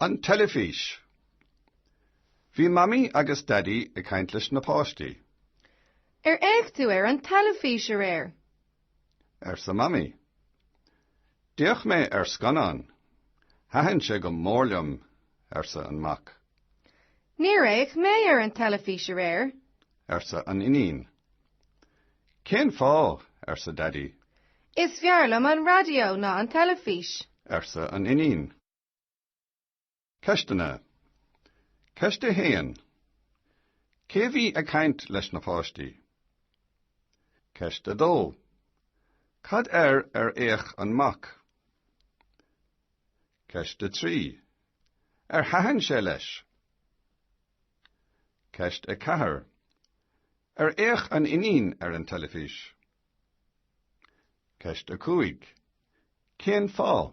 An teilifís. Bhí Mamaí agus Daidí ag caint leis na páistí. Ar fhéach tú ar an teilifís aréir? arsa Mamaí. D'fhéach mé ar scannán. Thaitin sé go mór liom, arsa an Mac. Níor fhéach mé ar an teilifís aréir, arsa an Iníon. Cén fáth? arsa Daidí. Is fearr liom an raidió ná an teilifís, arsa an Iníon. Ceisteanna Ceist 1. Cé a bhí ag caint leis na páistí? Ceist 2. Cad air ar fhéach an mac? Ceist 3. Ar thaitin sé leis? Ceist 4. Ar fhéach an iníon ar an teilifís? Ceist 5. Cén fáth?